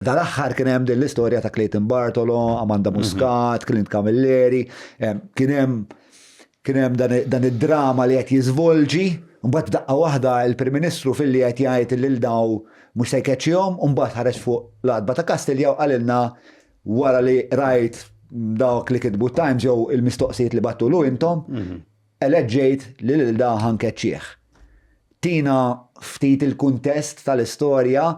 Dal-aħħar kien hemm din l-istorja ta' Clayton Bartolo, Amanda Muscat, Clint Camilleri, kien hemm kien hemm dan id-drama li qed jiżvolġi, mbagħad daqqa waħda il-Prim Ministru filli qed jgħid li lil daw mhux se jkeċċihom, u mbagħad ħareġ fuq l-għatba ta' Kastilja u qalilna wara li qrajt dawk li kitbu t-Times jew il-mistoqsijiet li battulu intom, eleġġejt li lil da ħa nkeċċih. Tina ftit il-kuntest tal-istorja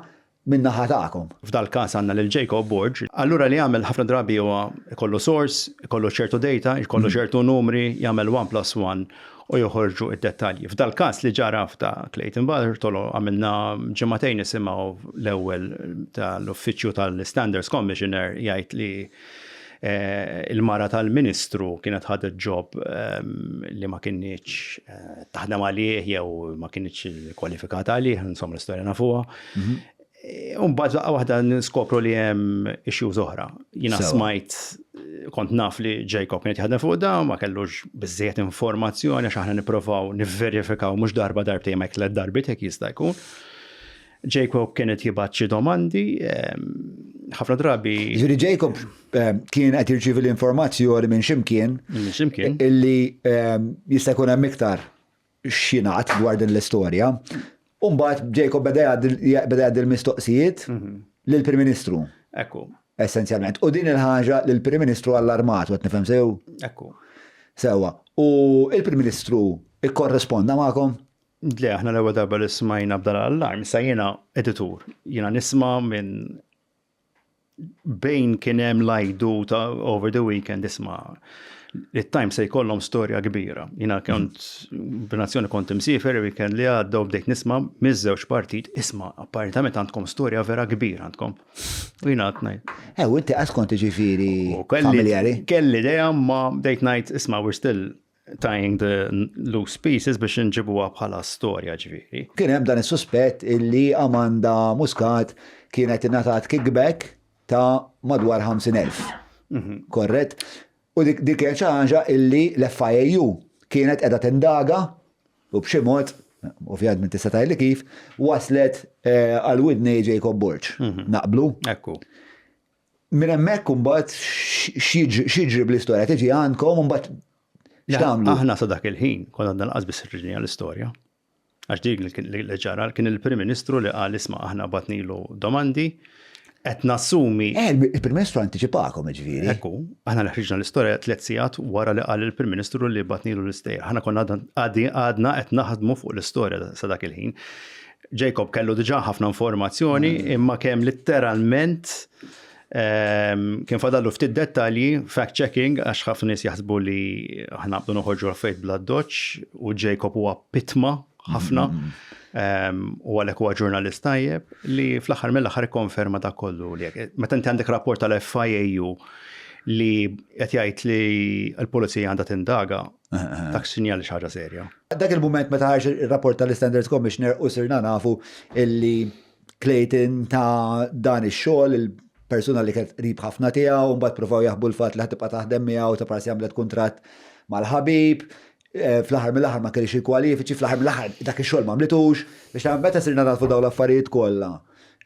min-naħa tagħkom. F'dal-każ għandna lil Jacob Borg. Allura li jagħmel ħafna drabi huwa jkollu source, jkollu ċertu data, jkollu ċertu numri, jagħmel one plus one u joħorġu d-dettalji. F'dal-każ li ġara f'ta' Clayton Bartolo għamilna ġimagħtejn nisimgħu l-ewwel tal-Uffiċċju tal-Standards Commissioner jgħid li Il-mara tal-Ministru kienet ħadet ġob li ma kinitx taħdem għalih jew ma kinitx kwalifikata għalih, insomma l-istorja nafuha. Mhm. Umbagħad laqgħa waħda niskopru li hemm issues oħra. Jiena smajt kont naf li Jacob kien jaħdem fuq da, ma kellux biżejjed informazzjoni għax aħna nipprovaw nivverifikaw mhux darba darbtejn ma jklet darbit hekk jista' jkun. Jacob kien qed jibgħat xi domandi, ehm, ħafna drabi. Ġifieri Jacob ehm, kien qed jirċievi l-informazzjoni minn ximkien. Minn ximkien. Illi ehm, jista' jkun hemm iktar xinat dwar din l-istorja. Umbagħad Jacob beda jgħaddi l-mistoqsijiet mhm. lill-Prim Ministru. Ekku. Essenzjalment. U din il-ħaġa lill-Prim Ministru għall-armat, għet nifhem sew? Ekku. Sewa. U il-Prim Ministru ikkorresponda magħkom? Le, aħna l-ewwel darba li smajna b'dan l-allarm, sa jiena editur, jiena nisma' minn bejn kien hemm lajdu ta' over the weekend isma' li t-time se jkollhom storja kbira. Jiena kont b'nazzjoni kont imsiefer weekend li għadda u bdejt nisma' miż-żewġ partit isma' apparentament għandkom storja vera kbira għandkom. U jiena għad ngħid. Eh, u inti qas kont ġifieri familjari. Kelli idea ma bdejt ngħid isma' we're still tying the loose pieces biex nġibuha bħala storja ġviri. Kien hemm dan is-suspett illi Amanda Muscat kienet ingħatat kickback ta' madwar 50,000. Mhm. Korret? U dik dik kienet xi ħaġa illi l-FIAU kienet qiegħda tindaga u b'xi mod, ovvjament tista' tgħidli kif, waslet eh, għal widni Jacob Borg. Mhm. Naqblu? Ekku. Minn hemmhekk imbagħad x'jiġri bl-istorja? Tiġi għandkom imbagħad x'tagħmlu? Aħna sa dak il-ħin konna għandna lanqas biss irġinija l-istorja. Għax dik li ġara kien il-Prim Ministru li qal isma' aħna batnilu domandi qed nassumi. Eh, il-Prim Ministru anticipakom ġifieri. Ekku, aħna li ħriġna l-istorja tliet sigħat wara li qal il-Prim Ministru li batnilu l-istejjer. Aħna konna għadna qed naħdmu fuq l-istorja sa dak il-ħin. Jacob kellu diġà ħafna informazzjoni mm. imma kemm litteralment ehm, kien fadallu ftit dettalji, fact checking, għax ħafna nies jaħsbu li aħna bdu noħorġu l-fejt bla doċ u Jacob huwa pitma ħafna. Mm, mm, ehm, u għalek huwa ġurnalist tajjeb li fl-aħħar mill-aħħar konferma da kollu li meta inti għandek rapport tal-FIAU li qed jgħid li l-pulizija għandha tindaga Dak sinjal li xaġa serja. Dak il-moment meta ħarġ ir-rapport tal-Standards Commissioner u sirna nafu illi Clayton ta' dan ix-xogħol il-persuna li kienet qrib ħafna tiegħu, mbagħad provaw jaħbu l-fatt li ħatibqa' taħdem miegħu ta' parsi għamlet kuntratt mal-ħabib, eh, fl-aħħar mill-aħħar ma kellix il-kwalifiċi, fl-aħħar mill-aħħar dak ix-xogħol ma għamlitux, biex ta' meta sirna nafu dawn l-affarijiet kollha.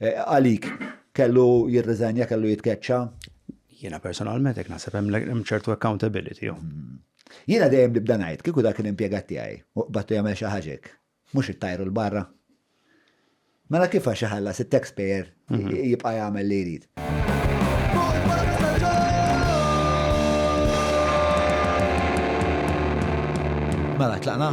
Eh, għalik kellu jirriżenja, kellu jitkeċċa. Jiena personalment hekk naħseb hemm ċertu accountability. Jiena dejjem nibda ngħid kieku dak l-impjegat tiegħi u qbadtu jagħmel xi ħaġek, mhux ittajru l-barra. Mela kif għax iħallas it-taxpayer mhm. jibqa' jagħmel li jrid. Mela tlaqna.